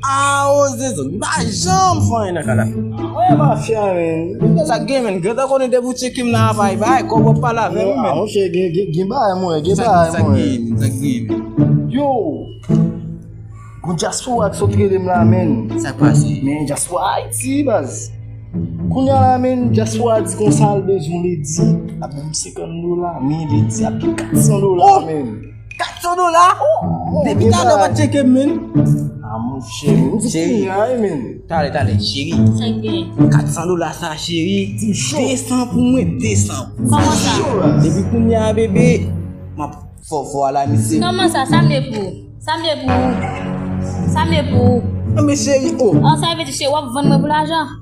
Aaww zezou li pa janm fè anyen nan kadafi. Mwen mafya menn. Mwen sa gen menn. Gentan konnen depi ou tcheke m nan avay bay kob wap pale avè m menn. Mwen che gen bay mwen gen bay mwen. Sa gen menn sa gen menn. Yow. Gon diaspora ki sot rele m la menn. Sak pase. Men diaspora ayiti baz. Kounya la menn diaspora di konsa l bezwen li di ap banm 50 dola men li di ap gen 400 dola menn. 400 dola oh depi talè wap tcheke m menn amou cheri cheri ay menn talè talè cheri 400 dola sa cheri 200 pou mwen 200 kòman sa depi pou mwen a bebe map fò fò ala misye kòman sa sa mwen pou sa mwen pou sa mwen pou mwen cheri oh an sa vè di cheri wap vann mwen pou lajan